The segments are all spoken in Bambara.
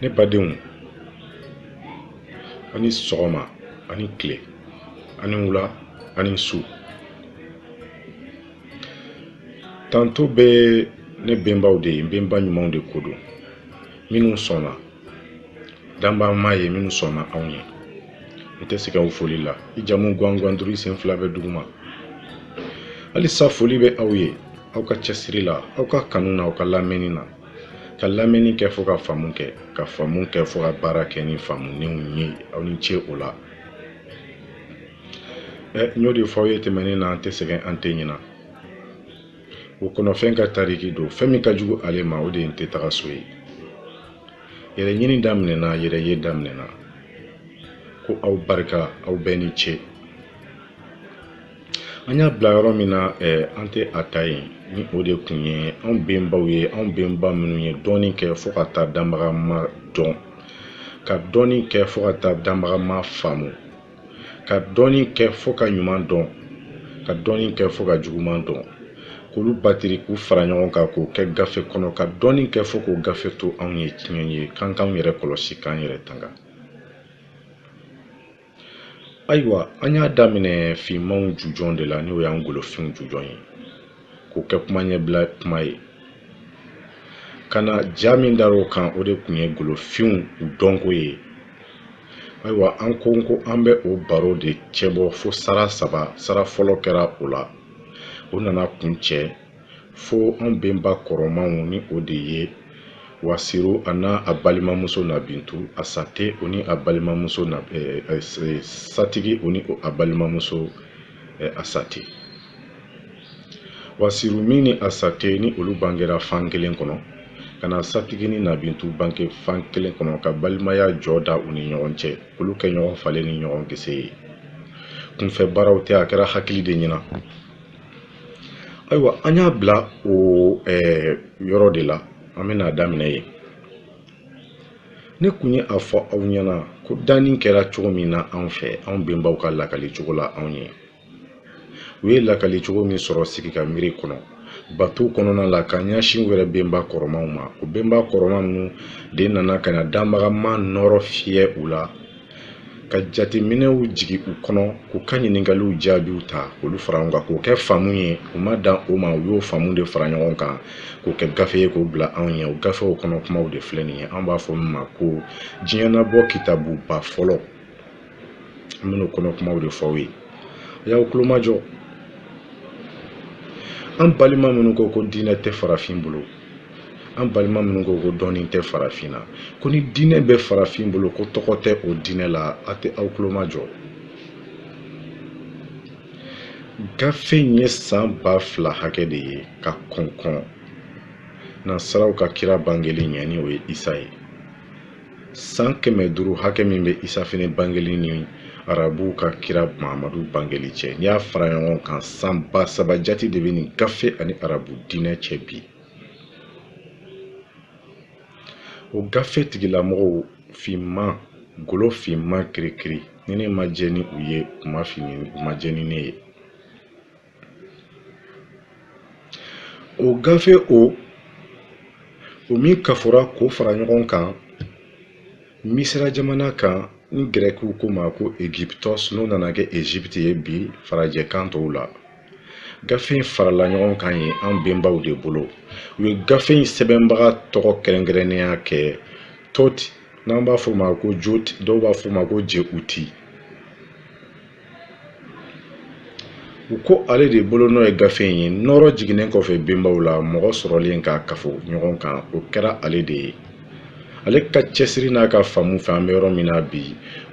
ne badenw a ni sɔgɔma a ni tile a ni wula a ni su tanto bɛ ne benbaw de ye n benba ɲumanw de ko don minnu sɔnna danbama ye minnu sɔnna anw ye n tɛ sɛgɛn o foli la i jamu gwangwan duuru i sen fila bɛ duguma halisa foli bɛ aw ye aw ka cɛsiri la aw ka kanu na aw ka lamɛnni na ka lamɛnni kɛ fo ka faamu kɛ ka faamu kɛ fo ka baara kɛ ni faamunenw ye aw ni ce o la ɛ n y'o de fɔ aw ye tɛmɛnen na an tɛ sɛgɛn an tɛ ɲina o kɔnɔfɛn ka tariki don fɛn min ka jugu ale ma o de ye n tɛ taga so ye yɛrɛ ɲini daminɛna yɛrɛ ye daminɛna ko aw barika aw bɛɛ ni ce an y'a bila yɔrɔ min na eh, an tɛ a ta yen ni o de kun ye anw benbaw ye anw benba minnu ye dɔɔni kɛ fo ka taa danbagama dɔn ka dɔɔni kɛ fo ka taa danbagama faamu ka dɔɔni kɛ fo ka ɲuman dɔn ka dɔɔni kɛ fo ka juguman dɔn k'olu batiri k'u fara ɲɔgɔn kan k'o kɛ gafe kɔnɔ ka dɔɔni kɛ fo k'o gafe to anw ye tiɲɛ ye k'an k'anw yɛrɛ kɔlɔsi k'an yɛrɛ tanga ayiwa an y'a daminɛ finmanw jujɔn de la n'o y'an golofinw jujɔn ye k'o kɛ kuma ɲɛbila kuma ye ka na ja min dar'o kan o de kun ye golofinw u dɔnko ye ayiwa an kun ko an bɛ o baro de cɛbɔ fo sara saba sara fɔlɔ kɛra o la o nana kuncɛ fo an benba kɔrɔmanw ni o de ye wasiru a n'a a balimamuso nabintu asate o ni a balimamuso na eh, eh, eh, satigi o ni a balimamuso eh, asate wasiru min ni asate ni olu bangera fan kelen kɔnɔ ka na satigi ni nabintu bange fan kelen kɔnɔ ka balimaya jɔ da u ni ɲɔgɔn cɛ olu kɛ ɲɔgɔn fale ni ɲɔgɔn gese ye kunfɛ baaraw tɛ a kɛra hakili de ɲɛna ayiwa an y'a bila o eh, yɔrɔ de la an bɛna a daminɛ yen ne kun ye a fɔ aw ɲɛna ko danni kɛra cogo min na anw fɛ anw benbaw ka lakali cogo la anw ye u ye lakali cogo min sɔrɔ sigi ka miiri kɔnɔ bato kɔnɔna la ka ɲɛsin u yɛrɛ benba kɔrɔmaw ma o benba kɔrɔma ninnu de nana ka na danbagama nɔrɔ fiyɛ u la ka jateminɛw jigi u kɔnɔ k'u ka ɲiningaliw jaabiw ta k'olu fara ɲɔgɔn kan k'o kɛ faamu ye u ma dan o ma u y'o faamu de fara ɲɔgɔn kan k'o kɛ gafe ye k'o bila anw ye o gafew kɔnɔ kumaw de filɛ nin ye an b'a fɔ min ma ko diɲɛnabɔ kitabuba fɔlɔ n bɛn'o kɔnɔ kumaw de fɔ aw ye a y'aw tulomajɔ an balima minnu ko ko diinɛ tɛ farafin bolo an balima minnu ko ko dɔnni tɛ farafin na ko ni diinɛ bɛ farafin bolo ko tɔgɔ tɛ o diinɛ la a tɛ aw tulomajɔ gafe in ye san ba fila hakɛ de ye ka kɔn kɔn nansaraw ka kira bangeli ɲɛ ni o ye isa ye san kɛmɛ duuru hakɛ min bɛ isa fɛnɛ bangeli ni arabuw ka kira mahamadu bangeli cɛ n'i y'a fara ɲɔgɔn kan san ba saba jati de bɛ nin gafe ani arabu diinɛ cɛ bi o gafe tigilamɔgɔw finman golo finman kirikiri ni ne ma jɛ ni u ye u ma jɛ ni ne ye o gafe o o min kafora k'o fara ɲɔgɔn kan misira jamana kan ni gɛrɛkiw ko ma ko egyptos n'o nana kɛ egypte ye bi farajɛ kan tɔw la gafe in farala ɲɔgɔn kan ye an benbaw de bolo u ye gafe in sɛbɛnbaga tɔgɔ kɛrɛnkɛrɛnnenya kɛ tot n'an b'a fɔ ma ko jot dɔw b'a fɔ ma ko jeuti u ko ale de bolonɔ ye gafe in ye nɔɔrɔ jiginnen kɔfɛ benbaw la mɔgɔ sɔrɔlen k'a kafo ɲɔgɔn kan o kɛra ale de ye ale ka cɛsiri n'a ka faamu fɛ an bɛ yɔrɔ min na bi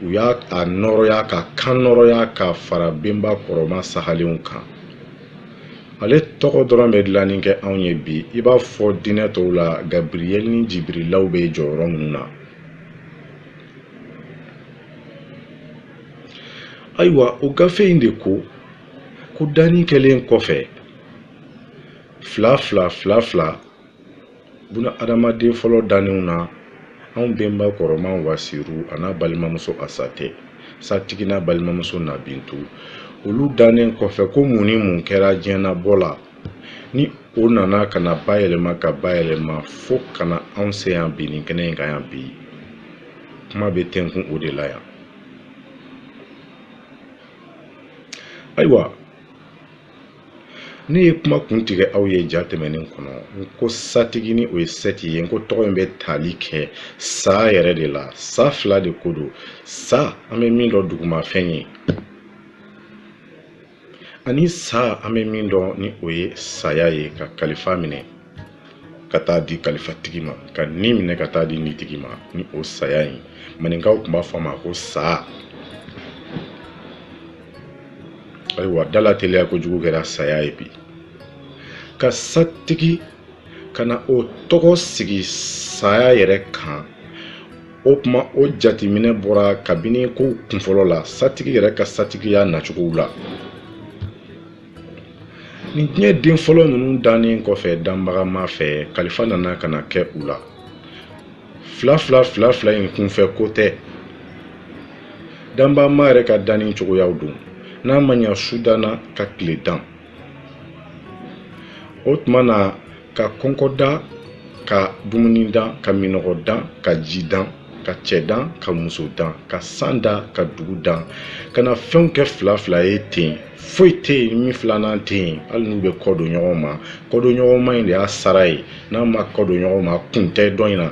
u y'a a nɔɔrɔya ka kan nɔɔrɔya ka fara benba kɔrɔma sahalenw kan ale tɔgɔ dɔrɔn bɛ dilanni kɛ anw ye bi i b'a fɔ diinɛ tɔw la gabriyɛli ni jibirilaw bɛ jɔyɔrɔ minnu na ayiwa o gafe in de ko ko danni kɛlen kɔfɛ fila fila fila fila buna adamaden fɔlɔ dannenw na anw bɛnba kɔrɔma wasiru an'a balimamuso asate satigi n'a balimamuso nabintu olu dannen kɔfɛ ko mun ni mun kɛra diɲɛnabɔ la ni o nana ka na bayɛlɛma ka bayɛlɛma fo ka na anw se yan bi nin kɛnɛ in kan yan bi kuma bɛ tɛnkun o de la yan ayiwa ne ye kuma kun tigɛ aw ye ja tɛmɛnen kɔnɔ n ko satigi ni o ye sɛti ye n ko tɔgɔ in bɛ tali kɛ sa yɛrɛ de la sa fila de ko don sa an bɛ min dɔn dugumafɛn ye ani sa an bɛ min dɔn ni o ye saya ye ka kalifa minɛ ka taa di kalifatigi ma ka ni minɛ ka taa di nitigi ma ni o saya ye maninkaw tun b'a fɔ a ma ko sa ayiwa dalateliya kojugu kɛra saya ye bi ka satigi ka na o tɔgɔ sigi saya yɛrɛ kan o kuma o jateminɛ bɔra kabini kow kunfɔlɔ la satigi yɛrɛ ka satigiya nacogow la nin diɲɛ den fɔlɔ ninnu dannen kɔfɛ danbagama fɛ kalifa nana ka na kɛ u la fila fila fila fila in kunfɛ ko tɛ danbagama yɛrɛ ka danni cogoyaw don n'a ma ɲa su danna ka tile dan o tuma na ka kɔnkɔ dan ka dumuni dan ka minɔgɔ dan ka ji dan ka cɛ dan ka muso dan ka san dan ka dugu dan ka na fɛnw kɛ fila fila ye ten foyi tɛ yen min filanan tɛ yen hali n'u bɛ kɔ don ɲɔgɔn ma kɔ don ɲɔgɔn ma in de y'a sara ye n'a ma kɔ don ɲɔgɔn ma kun tɛ dɔ in na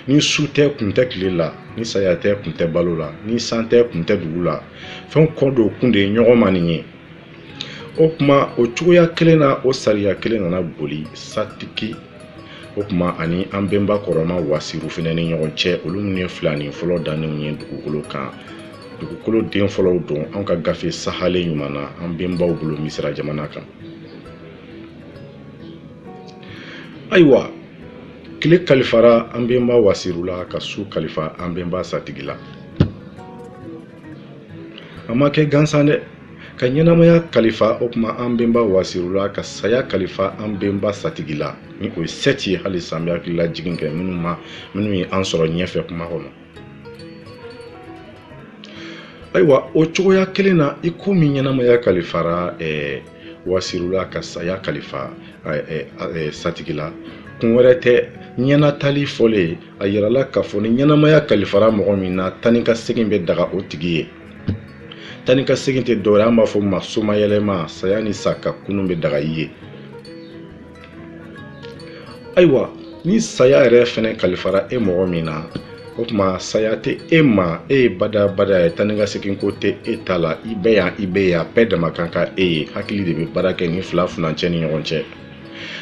ni su tɛ kun tɛ tile la ni saya tɛ kun tɛ balo la ni san tɛ kun tɛ dugu la fɛnw kɔ don kun de ye ɲɔgɔn ma nin ye o kuma o cogoya kelen na o sariya kelen nana boli satigi o kuma ani an bɛnba kɔrɔma wasiru fɛnɛ ni ɲɔgɔn cɛ olu minnu ye filanin fɔlɔ dannenw ye dugukolo kan dugukolo den fɔlɔw don an ka gafe sahalen ɲuman na an bɛnbaw bolo misira jamana kan ayiwa tile kalifara an bɛnba wasiru la ka su kalifa an bɛnba satigi la a ma kɛ gansan dɛ ka ɲɛnamaya kalifa o kuma an bɛnba wasiru la ka saya kalifa an bɛnba satigi la ni o ye sɛti ye halisa an bɛ hakililajigin kɛ minnu ma minnu ye an sɔrɔ ɲɛfɛ kuma kɔnɔ ayiwa o cogoya kelen na i ko min ɲɛnamaya kalifara eh, wasiru la ka saya kalifa eh, eh, satigi la kun wɛrɛ tɛ ɲɛnatali fɔlen a yirala k'a fɔ ni ɲɛnamaya kalifara mɔgɔ min na taa ni ka segin bɛ daga o tigi ye taa ni ka segin tɛ dɔwɛrɛ an b'a fɔ ma somayɛlɛma saya ni sa ka kunun bɛ daga i ye ayiwa ni saya yɛrɛ fɛnɛ kalifara e mɔgɔ min na o tuma saya tɛ e ma e ye badabada ye taa ni ka segin ko tɛ e ta la i bɛ yan i bɛ yan bɛɛ dama kan ka e ye hakili de bɛ baara kɛ nin fila furancɛ ni ɲɔgɔn cɛ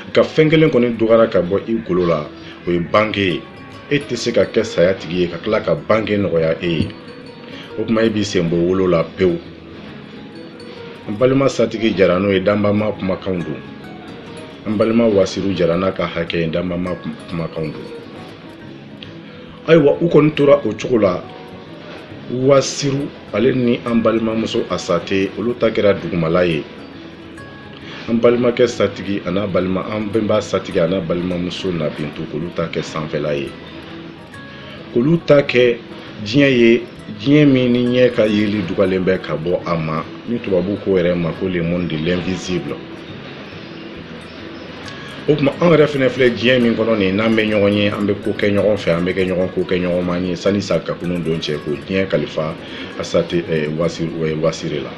nka fɛn kelen kɔni dɔgɔyara ka bɔ i golo la o ye bange ye e tɛ se ka kɛ saya tigi ye ka tila ka bange nɔgɔya e ye o kuma e b'i sen bɔ wolo la pewu an balima satigi jara n'o ye danbama kumakanw don an balima wasiru jara n'a ka hakɛ ye danbama kumakanw don ayiwa u kɔni tora o cogo la wasiru ale ni an balimamuso asate olu ta kɛra dugumala ye an balimakɛ satigi an'a balima an bɛnba satigi an'a balimamuso nabintu k'olu ta kɛ sanfɛla ye k'olu ta kɛ diɲɛ ye diɲɛ min ni ɲɛ ka yeli dugalen bɛ ka bɔ a ma ni tubabu k'o yɛrɛ ma ko le monde de l'invisible o kuma anw yɛrɛ fɛnɛ filɛ diɲɛ min kɔnɔ nin n'an bɛ ɲɔgɔn ye an bɛ ko kɛ ɲɔgɔn fɛ an bɛ kɛ ɲɔgɔn ko kɛ ɲɔgɔn man ye sani sakakunu don cɛ k'o diɲɛ kalifa asate wasire la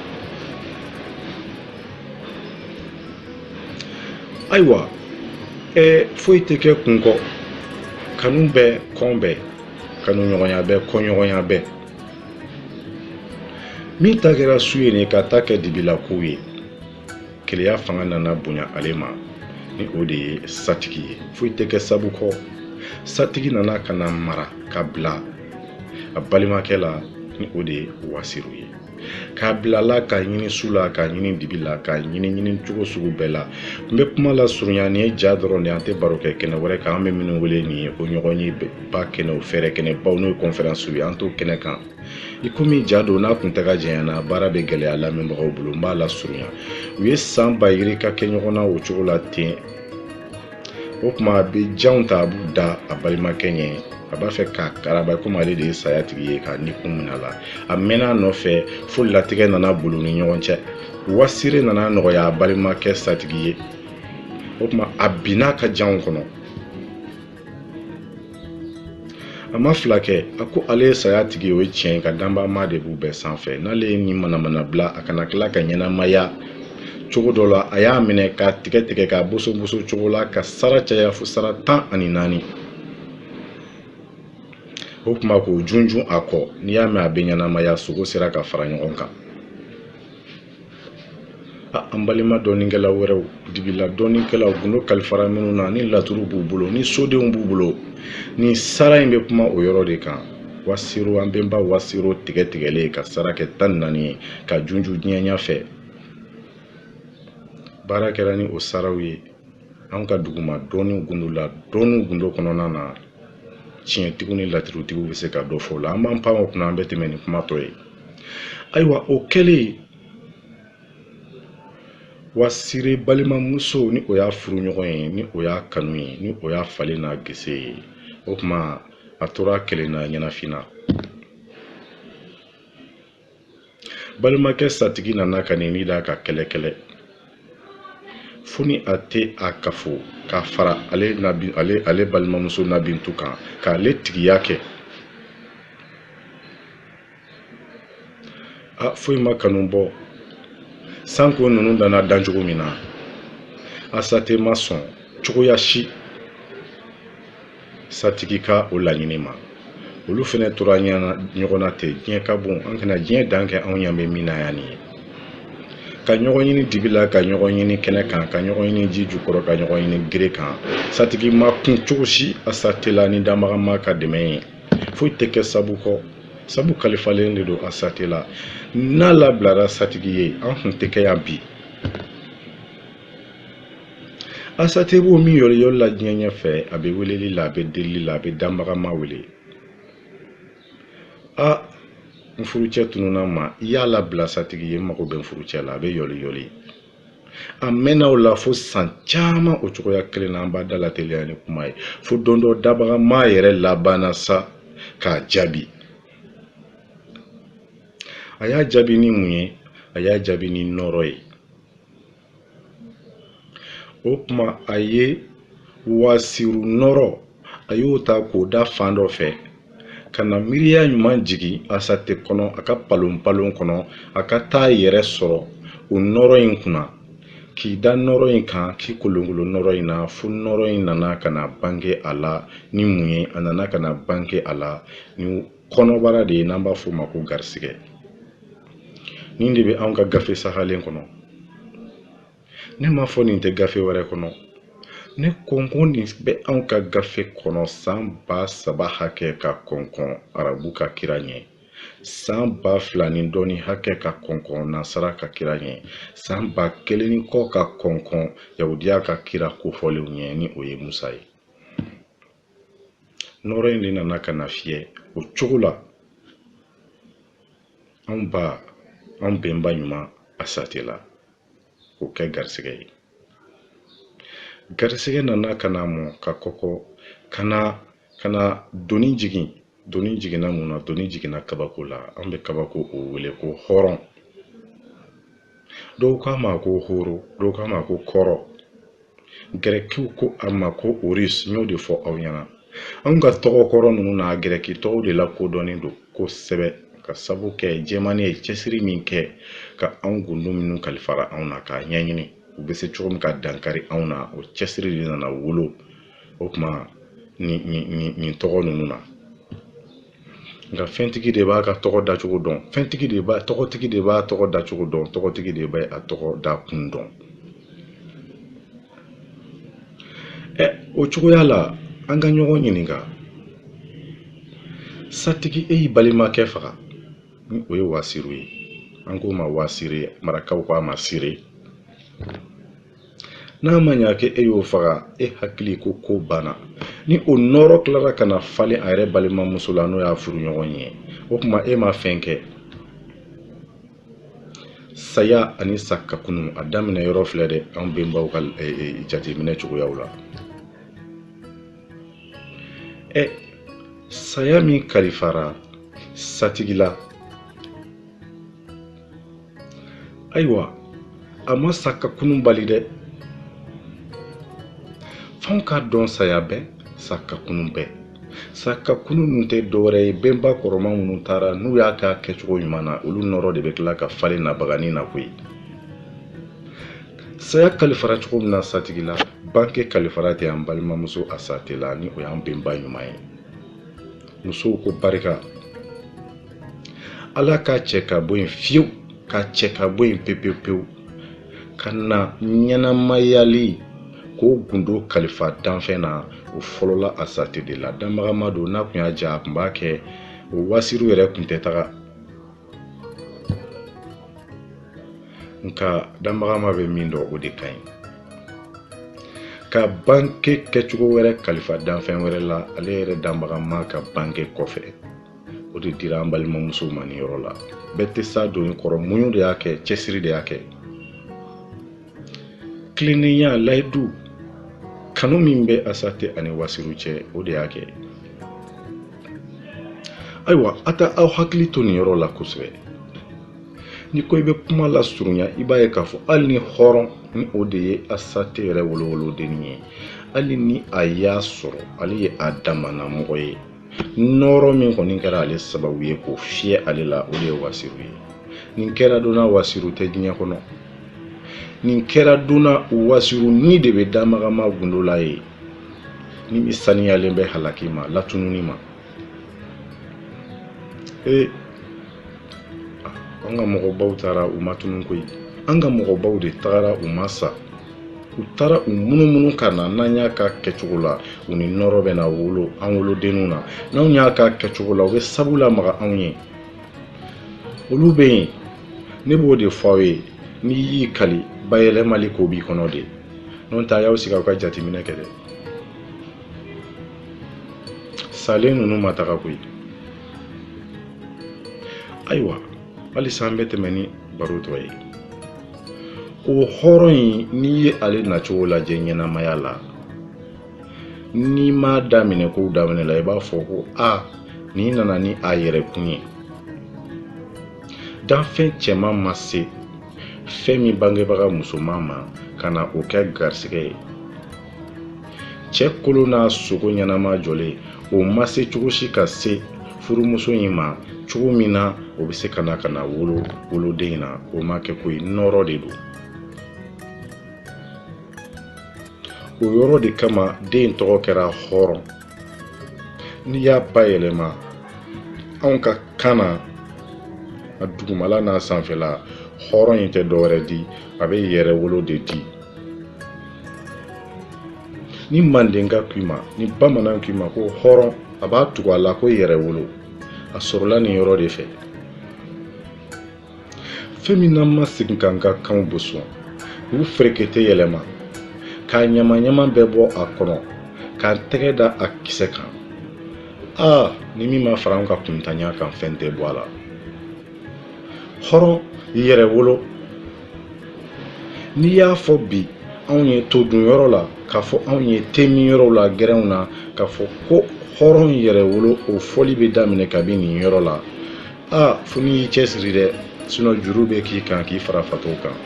ayiwa ɛ foyi tɛ kɛ kun kɔ kanu bɛ kɔn bɛ kanuɲɔgɔnya bɛ kɔnɲɔgɔnya bɛ min ta kɛra su ye ni k'a ta kɛ dibila kow ye keleya fanga nana bonya ale ma ni o de ye satigi ye foyi tɛ kɛ sabu kɔ satigi nana ka na mara ka bila a balimakɛ la ni o de ye wasiru ye ka bila a la k'a ɲini su la k'a ɲini dibi la k'a ɲini ɲini cogo sugu bɛɛ la n bɛ kuma lasurunya nin ye ja dɔrɔn de an tɛ baro kɛ kɛnɛ wɛrɛ kan an bɛ minnu wele nin ye ko ɲɔgɔnyeba kɛnɛw fɛrɛ kɛnɛ baw n'o ye kɔnfɛransiw ye an t'o kɛnɛ kan i komi ja don n'a kuntaga janyana baara bɛ gɛlɛya lamɛnbagaw bolo n b'a lasurunya u ye san ba yirika kɛ ɲɔgɔn na o cogo la ten o kuma a bɛ janw ta a b'u da a balimakɛ ɲɛ a b'a fɛ k'a karaba komi ale de ye saya tigi ye k'a ni kun minɛ a la a mɛnna a nɔfɛ fo latigɛ nana bolo ni ɲɔgɔn cɛ wasire nana nɔgɔya a balimakɛ satigi ye o kuma a binna a ka janw kɔnɔ a ma fila kɛ a ko ale ye saya tigi o ye tiɲɛ nka danbama de b'u bɛɛ sanfɛ n'ale ye nin manamana bila a kana tila ka ɲɛnamaya cogo dɔ la a y'a minɛ k'a tigɛ tigɛ k'a bosoboso cogo la k'a sara caya fo sara tan ani naani o kuma k'o junjun a kɔ n'i y'a mɛn a bɛ ɲɛnamaya sogo sera ka fara ɲɔgɔn kan an balima dɔnnikɛla wɛrɛw dibila dɔnnikɛlaw gundo kalifara minnu na ni laturu b'u bolo ni sodenw b'u bolo ni sara in bɛ kuma o yɔrɔ de kan wasiro an bɛnba wasiro tigɛ tigɛlen k'a sara kɛ tan naani ye k'a junjun diɲɛ ɲa fɛ baara kɛra ni o saraw ye an ka duguma dɔnni gundo la dɔnni gundo kɔnɔna na tiɲɛtigiw ni laturutigiw bɛ se ka dɔ fɔ o la an b'an pan o kunna an bɛ tɛmɛ ni kuma tɔ ye ayiwa o kɛlen wasire balimamuso ni o y'a furu ɲɔgɔn ye ni o y'a kanu ye ni o y'a falen n'a gese ye o kuma a tora a kelen na ɲɛnafin na balimakɛ satigi nana ka n'i da k'a kɛlɛ kɛlɛ fo ni a tɛ a kafo k'a fara ale nabi ale ale balimamuso nabintu kan k'ale tigiya kɛ a foyi ma kanu bɔ sanko ninnu danna dan cogo min na asate ma sɔn cogoya si satigi ka o laɲini ma olu fana tora ɲɔgɔn na ten diɲɛ ka bon an kana diɲɛ dan kɛ anw ɲan bɛ min na yan nin ye ka ɲɔgɔn ɲini dibi la ka ɲɔgɔn ɲini kɛnɛ kan ka ɲɔgɔn ɲini ji jukɔrɔ ka ɲɔgɔn ɲini gere kan satigi ma kun cogo si asate la ni danbagama ka dɛmɛ ye foyi tɛ kɛ sabu kɔ sabu kalifalen de don asate la n'a labilara satigi ye an kun tɛ kɛ yan bi asate b'o min yɔliyɔli la diɲɛ ɲɛfɛ a bɛ weleli la a bɛ delili la a bɛ danbagama wele a n furucɛ tununa ma i y'a labila satigi ye n mago bɛ n furucɛ la a bɛ yɔliyɔli a mɛnna o la fo san caman o cogoya kelen na an b'a dalateliya ni kuma ye fo don dɔ dabagama yɛrɛ labanna sa k'a jaabi a y'a jaabi ni mun ye a y'a jaabi ni nɔrɔ ye o kuma a ye wasiru nɔrɔ a y'o ta k'o da fan dɔ fɛ ka na miiriya ɲuman jigin asate kɔnɔ a ka palonpalon kɔnɔ a ka taa yɛrɛ sɔrɔ o nɔrɔ in kunna k'i da nɔrɔ in kan k'i kolonkolon nɔrɔ in na fo nɔrɔ in nana ka na bange a la ni mun ye a nana ka na bange a la ni kɔnɔbara de ye n'an b'a f'o ma ko garisigɛ nin de bɛ anw ka gafe sahalen kɔnɔ ne m'a fɔ nin tɛ gafe wɛrɛ kɔnɔ ne kɔnkɔn nin bɛ anw ka gafe kɔnɔ san ba saba hakɛ ka kɔnkɔn arabu ka kira ɲɛ san ba fila ni dɔɔni hakɛ ka kɔnkɔn nasara ka kira ɲɛ san ba kelen ni kɔ ka kɔnkɔn yahudiya ka kira kofɔlenw ɲɛ ni o ye musa ye nɔrɔ in de nana ka na fiyɛ o cogo la anw ba anw bɛnba ɲuman asate la k'o kɛ garisigɛ ye garisigɛ nana ka na mɔ ka kɔkɔ ka na ka na doni jigin doni jiginna mun na doni jiginna kabako la an bɛ kabako o wele ko hɔrɔn dɔw k'a ma ko horo dɔw k'a ma ko kɔrɔ gɛrɛkiw ko a ma ko horus n y'o de fɔ aw ɲɛna anw ka tɔgɔ kɔrɔ ninnu na gɛrɛki tɔgɔw de lakodɔnnen don kosɛbɛ ka sabu kɛ jɛmani ye cɛsiri min kɛ ka anw gundo minnu kalifara anw na k'a ɲɛɲini u bɛ se cogo min ka dankari anw na o cɛsiri de nana wolo o kuma nin nin nin nin tɔgɔ ninnu na nka fɛntigi de b'a ka tɔgɔ dacogo dɔn fɛntigi de b'a tɔgɔtigi de b'a tɔgɔ dacogo dɔn tɔgɔtigi de b'a a tɔgɔ da kun dɔn ɛ o cogoya la an ka ɲɔgɔn ɲininka satigi e y'i balimakɛ faga ni o ye wasiri ye an k'o ma wasiri marakaw k'a ma sire n'a ma ɲa kɛ e y'o faga e hakili ko ko banna ni o nɔɔrɔ kilara ka na falen a yɛrɛ balimamuso la n'o y'a furuɲɔgɔn ye o kuma e ma fɛn kɛ saya ani sakakunu a daminɛ yɔrɔ filɛ dɛ an benbaw ka e, e, jateminɛ cogoyaw la ɛ saya min kalifara satigi la ayiwa a ma sa ka kunun bali dɛ f'anw k'a dɔn saya bɛ sa ka kunun bɛ sa ka kunun ninnu tɛ dɔwɛrɛ ye bɛnba kɔrɔma minnu taara n'u y'a k'a kɛcogo ɲuman na olu nɔɔrɔ de bɛ kila ka falen nabaganin na koyi saya kalifara cogo min na satigi la banke kalifara ten an balimamuso asate la ni o y'an bɛnba ɲuman ye musow ko barika ala k'a cɛ ka bɔ yen fiyewu k'a cɛ ka bɔ yen pepewu pewu ka na ɲɛnamayali k'o gundo kalifa danfɛn na o fɔlɔla asate de la danbagama don n'a kun y'a ja a kun b'a kɛ o wasiri yɛrɛ kun tɛ taga nka danbagama bɛ min dɔn o de ka ɲi ka banke kɛcogo wɛrɛ kalifa danfɛn wɛrɛ la ale yɛrɛ danbagama ka banke kɔfɛ o de dira an balimamusow ma nin yɔrɔ la bɛɛ tɛ s'a doni kɔrɔ muɲu de y'a kɛ cɛsiri de y'a kɛ kilennenya layidu kanu min bɛ asate ani wasiru cɛ o de y'a kɛ ayiwa a t'aw hakili to nin yɔrɔ la kosɛbɛ ni ko i bɛ kuma lasurunya i b'a ye k'a fɔ hali ni hɔrɔn ni o de ye asate yɛrɛ wolowolodennin ye hali ni a y'a sɔrɔ ale ye a damana mɔgɔ ye nɔɔrɔ min kɔni kɛra ale sababu ye k'o fiyɛ ale la o de ye wasiru ye nin kɛra don na wasiru tɛ diɲɛ kɔnɔ nin kɛra don na wasiru ni de bɛ danbagama gundo la yen ni min saniyalen bɛ halaki ma latununi ma ee an ka mɔgɔbaw taara u ma tunun koyi an ka mɔgɔbaw de tagara u ma sa u taara u munumunu ka na n'an y'a ka kɛcogo la u ni nɔrɔ bɛ na wolo an wolodenninw na n'anw y'a ka kɛcogo la u bɛ sabu lamaga anw ye olu bɛ yen ne b'o de fɔ aw ye n'i y'i kali bayɛlɛmali ko b'i kɔnɔ de n'o tɛ a y'aw sigi aw ka jateminɛ kɛ dɛ salen ninnu ma taga koyi ayiwa halisa an bɛ tɛmɛ ni baro tɔ ye o hɔrɔn in n'i ye ale nacogo lajɛ ɲɛnamaya la n'i m'a daminɛ kow daminɛ la i b'a fɔ ko a nin nana ni a yɛrɛ kun ye danfɛn cɛman ma se fɛn min bangebaga musoman ma ka na o kɛ garisɛgɛ ye cɛ kolo n'a sogo ɲɛnama jɔlen o ma se cogo si ka se furumuso in ma cogo min na o bɛ se ka na ka na wolo woloden in na o ma kɛ koyi nɔrɔ de don o yɔrɔ de kama den tɔgɔ kɛra hɔrɔn n'i y'a bayɛlɛma anw ka kan na a dugumala n'a sanfɛla hɔrɔn in tɛ dɔwɛrɛ di a bɛ yɛrɛ wolo de di ni mandenka k'i ma ni bamanan k'i ma ko hɔrɔn a b'a tugu a la ko yɛrɛ wolo a sɔrɔla nin yɔrɔ de fɛ fɛn min n'an ma segin k'an ka kanw boson k'u ferekete yɛlɛma k'a ɲama-ɲama bɛɛ bɔ a kɔnɔ k'an tɛgɛ da a kisɛ kan aa ni min ma fara an ka kuntanya kan fɛn tɛ bɔ a la hɔrɔn yɛrɛ wolo n'i y'a fɔ bi anw ye todun yɔrɔ la k'a fɔ anw ye temin yɔrɔw la gɛrɛnw na k'a fɔ ko hɔrɔn yɛrɛ wolo o fɔli bɛ daminɛ kabi nin yɔrɔ la a fo n'i y'i cɛsiri dɛ sinɔ juru bɛ k'i kan k'i fara fatɔw kan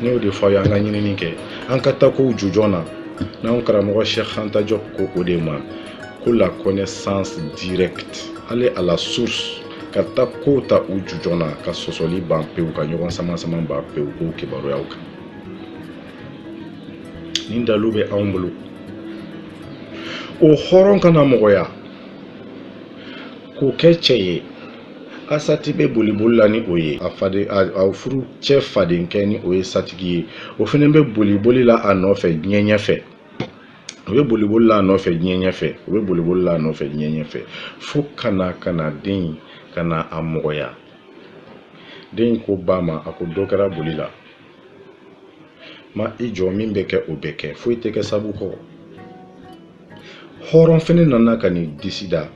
ne y'o de fɔ aw ye an ka ɲinini kɛ an ka taa kow jujɔn na n'an karamɔgɔ cheikh anta diop ko o de ma ko la connaissance directe aller à la source ka taa kow ta u jujɔn na ka sɔsɔli ban pewu ka ɲɔgɔn samasama ban pewu ko kibaruyaw kan nin dalu bɛ anw bolo o hɔrɔn ka na mɔgɔya k'o kɛ cɛ ye asati bɛ boliboli la ni o ye a faden a furucɛ fadenkɛ ni o ye satigi ye o fana bɛ boliboli la a nɔfɛ diɲɛ ɲɛfɛ u bɛ boliboli la a nɔfɛ diɲɛ ɲɛfɛ u bɛ boliboli la a nɔfɛ diɲɛ ɲɛfɛ fo ka na ka na den in ka na a mɔgɔya den in ko ba ma a ko dɔ kɛra boli la ma i jɔ min bɛ kɛ o bɛ kɛ foyi tɛ kɛ sabu kɔ hɔrɔn fɛnɛ nana ka n'i disi da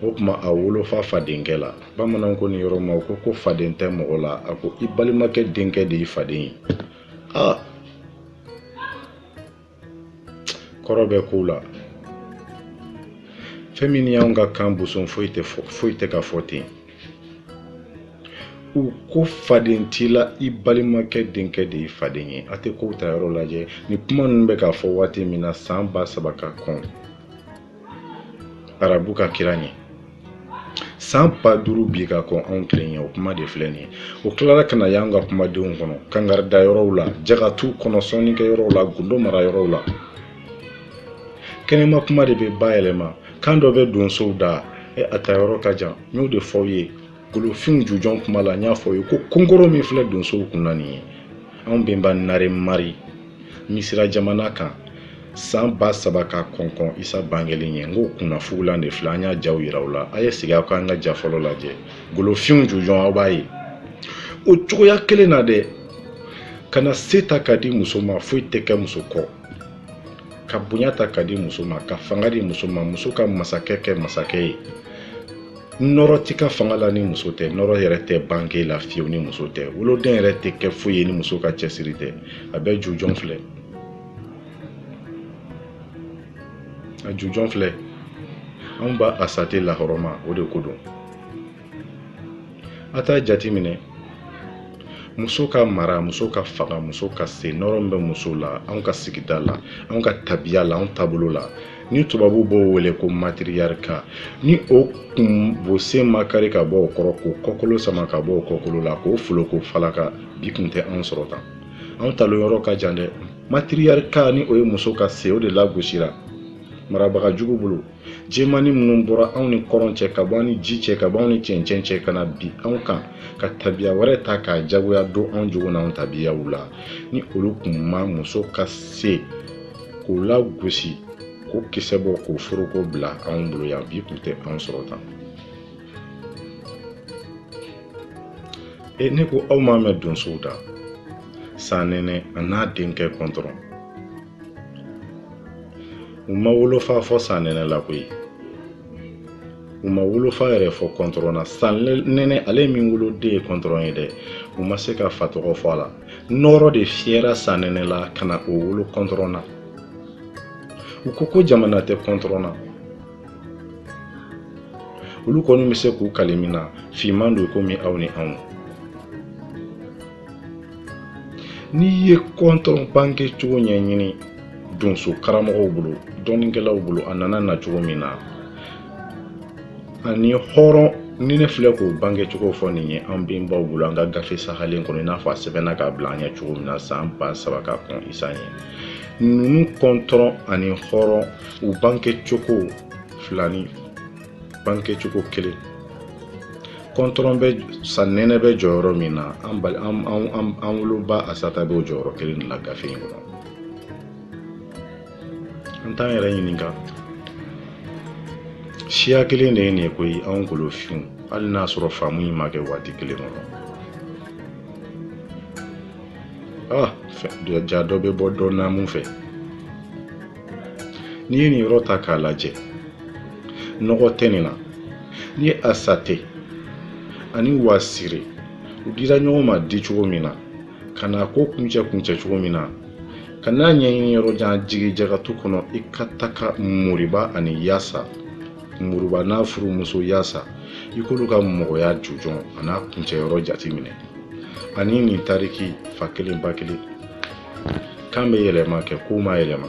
o tuma a wolofa fadenkɛ la bamananw ko nin yɔrɔ ma ko faden tɛ mɔgɔ la a ko i balimakɛ denkɛ de ye faden ye ah kɔrɔ bɛ kow la fɛn min ni y'anw ka kan boson foyi tɛ ka fɔ ten u ko faden t'i la i balimakɛ denkɛ de ye faden ye a tɛ kow ta yɔrɔ lajɛ ni kuma ninnu bɛ ka fɔ waati min na san ba saba ka kɔn arabu ka kira ɲɛ san ba duuru bi ka kɔn anw kelen ɲɛ o kuma de filɛ nin ye o tilara ka na y'an ka kumadenw kɔnɔ kangarida yɔrɔw la jagatu kɔnɔ sɔnnikɛ yɔrɔw la gundo mara yɔrɔw la kɛnɛma kuma de bɛ bayɛlɛma kan dɔ bɛ donsow da e a ta yɔrɔ ka jan n y'o de fɔ aw ye golofin jujɔn kuma la n y'a fɔ ye ko konkoro min filɛ donsow kun na nin ye anw benba naremari misira jamana kan san ba saba ka kɔnkɔn isa bangelen ɲɛ n k'o kunnafugulan de filɛ an y'a jaw yira aw la a ye segin aw ka an ka ja fɔlɔ lajɛ golofinw jujɔn aw b'a ye o cogoya kelen na dɛ ka na se ta ka di muso ma foyi tɛ kɛ muso kɔ ka bonya ta ka di muso ma ka fanga di muso ma muso ka masakɛ kɛ masakɛ ye nɔrɔ t'i ka fanga la ni muso tɛ nɔrɔ yɛrɛ tɛ bange la fiyewu ni muso tɛ woloden yɛrɛ tɛ kɛ foyi ye ni muso ka cɛsiri tɛ a bɛɛ jujɔn filɛ a jujɔn filɛ anw ba asate lahɔrɔma o de ko don a t'a jate minɛ muso ka mara muso ka fanga muso ka se nɔrɔ min bɛ muso la anw ka sigida la anw ka tabiya la anw taabolo la ni tubabu b'o wele ko matriarcat ni o kun bo sen ma kari ka bɔ o kɔrɔ k'o kɔkolo sama ka bɔ o kɔkolo la k'o foloko falaka bi kun tɛ anw sɔrɔ tan anw talon yɔrɔ ka jan dɛ matriarcat ni o ye muso ka se o de lagosira marabaga jugu bolo jɛmani minnu bɔra anw ni kɔrɔn cɛ ka bɔ an ni ji cɛ ka bɔ anw ni cɛncɛn cɛ ka na bin anw kan ka tabiya wɛrɛ ta k'a jagoya don anw jogo n'anw tabiyaw la ni olu kun ma muso ka se k'o lagosi k'o kisɛ bɔ k'o foroko bila anw bolo yan bi kun tɛ anw sɔrɔ tan e ne ko aw m'a mɛn donsow da sanɛnɛ a n'a denkɛ kɔntɔrɔn u ma wolofa fɔ sanɛnɛ la koyi u ma wolofa yɛrɛ fɔ kɔntɔrɔn na sanɛnɛ ale min woloden ye kɔntɔrɔn ye dɛ u ma se ka fa tɔgɔ fɔ a la nɔɔrɔ de fiyɛra sanɛnɛ la ka na o wolo kɔntɔrɔn na u ko ko jamana tɛ kɔntɔrɔn na olu kɔni bɛ se k'u kali min na finman don komi aw ni anw n'i ye kɔntɔrɔn bange cogo ɲɛɲini donso karamɔgɔw bolo dɔnnikɛlaw bolo a nana na cogo min na ani hɔrɔn ni ne filɛ k'o bange cogo fɔ nin ye an bɛnbaw bolo an ka gafe sahalen kɔnɔ i n'a fɔ a sɛbɛnna k'a bila an ɲɛ cogo min na san ba saba ka kɔn isa ɲɛ ninnu kɔntɔrɔn ani hɔrɔn u bange cogo fila ni bange cogo kelen kɔntɔrɔn bɛ sanɛnɛ bɛ jɔyɔrɔ min na an bali an an an woloba asata bɛ o jɔyɔrɔ kelen de la gafe in kɔnɔ an t'an yɛrɛ ɲininka siya kelen de ye nin ye koyi anw golofinw hali n'a sɔrɔ faamu in ma kɛ waati kelen kɔnɔ ah ja dɔ bɛ bɔ dɔ naamu fɛ n'i ye nin yɔrɔ ta k'a lajɛ nɔgɔ tɛ nin na n'i ye asate ani wasire u dira ɲɔgɔn ma di cogo min na ka na ko kuncɛ kuncɛ cogo min na Ka n'a ɲɛɲini yɔrɔ jan jigi jagatu kɔnɔ i ka taga moriba ani yasa moriba n'a furumuso yasa i k'olu ka mɔgɔya jujɔn ani a kuncɛ yɔrɔ jati minɛ ani nin tariki fa kelen ba kelen kan bɛ yɛlɛma kɛ ko ma yɛlɛma